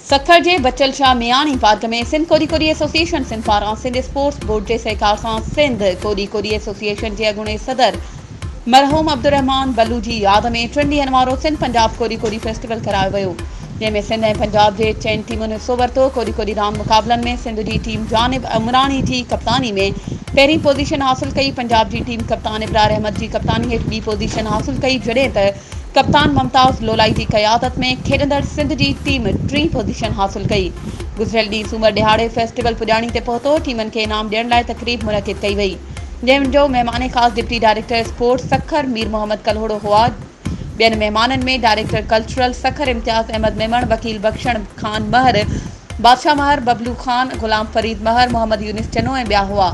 سکر جي بچل شاهه مياڻي پارڪ ۾ سنڌ ڪوڏي ڪوڏي ايسوسيئيشن سنڌ پاران سنڌ اسپورٽس بورڊ جي سهڪار سان سنڌ ڪوڏي ڪوڏي ايسوسيئيشن جي اڳوڻي صدر مرحوم عبدالرحمان بلو جي ياد ۾ ٽن ڏينهن وارو سنڌ پنجاب ڪوڏي ڪوڏي فيسٽيول ڪرايو ويو جنهن ۾ سنڌ ۽ پنجاب جي چئن ٽيمن حصو ورتو ڪوڏي ڪوڏي راند مقابلن ۾ سنڌ جي ٽيم جانب عمراڻي جي ڪپتاني ۾ پهرين پوزيشن حاصل ڪئي پنجاب جي ٽيم ڪپتان ابرار احمد جي ڪپتاني هيٺ ٻي پوزيشن حاصل ڪئي جڏهن ته ڪپتان ممتاز لولائي جي قيادت ۾ کيڏندڙ سنڌ جي ٽيم ٽين پوزيشن حاصل ڪئي گذريل ڏينهن سومر ڏهاڙي فيسٽيول پڄاڻي تي پهتو ٽيمن کي انعام ڏيڻ لاء تقريب منعقد ڪئي وئي. جنهن جو مهمان خاص deputy director sports Sukkur Mir Muhammad Kalhoro هئا. ٻين مهمانن ۾ ڊائريڪٽر ڪلچرل سکر امتياز احمد ميمڻ، وڪيل بخشڻ خان مهر، بادشاهه مهر، ببلو خان، غلام فريد مهر، محمد يونس چنو ۽ ٻيا هئا.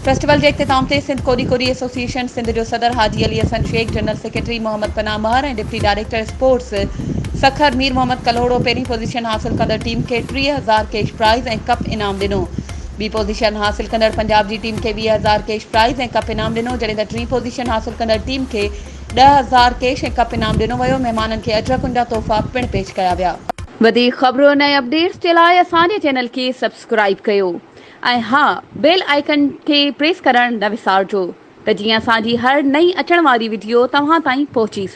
فيسٽيول جي اختتام تي سنڌ ڪوڏي ڪوڏي ايسوسيئيشن سنڌ جو صدر Haji Ali Hassan Shaikh, general secretary Muhammad Panah Mehar ۽ deputy director sports Sukkur Mir Muhammad Kalhoro پهرين پوزيشن حاصل ڪندڙ ٽيم کي ٽيهه هزار ڪيش پرائز ۽ ڪپ انعام ڏنو. ٻي پوزيشن حاصل ڪندڙ پنجاب جي ٽيم کي ويهه هزار ڪيش پرائز ۽ ڪپ انعام ڏنو جڏهن ته ٽين پوزيشن حاصل ڪندڙ ٽيم کي ڏهه هزار ڪيش ۽ ڪپ انعام ڏنو ويو مهمانن کي اجرڪن جا تحفا پڻ پيش ڪيا ويا. وڌيڪ خبرن ۽ اپڊيٽس جي لاء اسان جي چينل کي سبسڪرائيب ڪيو ۽ ها بيل آئيڪن کي پريس ڪرڻ نه وسارجو ته جيئن اسان جي هر نئين اچڻ واري وڊيو توهان تائين پهچي سگهي.